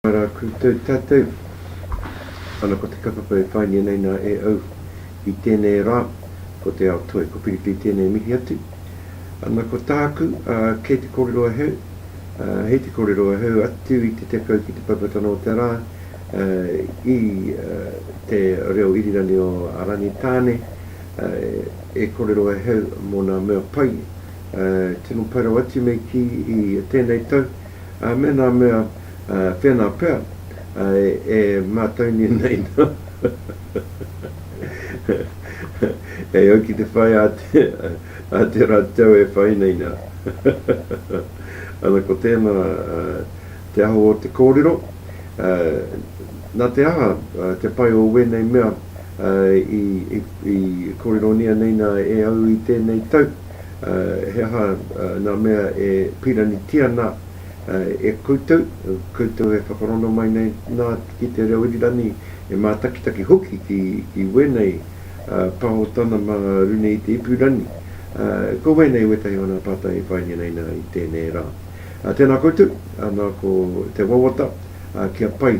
Ka ra koutou tatou. Ana ko te kaupapa e whaingia nei na e au i tenei ra, ko te ao toi, ko Piripi tenei mihi atu. Ana ko taku, a, kei te korero ahau, a, hei te korero ahau atu i te tekau ki te paipatana o te ra, a, i, a, te reo irirangi o a Rangitāne, e kore rawa e hau mō nā mea pai, tino pai rawa atu mei kī i tēnei tau, me nā mea whēnā pea e mātaunui nei nā e au ki te whai a te rautau e whai nei nā. Ana ko tēnā te aho o te kōrero, nā te aha te pai o wēnei mea, I kōreronia nei nā e au i tēnei tau, he aha nā mea e pīranitia nā e koutou, koutou e whakarongo mai nei nā ki te reo irirani, e mātakitaki hoki ki wēnei pāhotana mā runei i te ipurangi. Ko wēnei wētahi o nā pātai i whaingia nei nā i tēnei rā. Tēnā koutou, nā ko te wawata kia pai.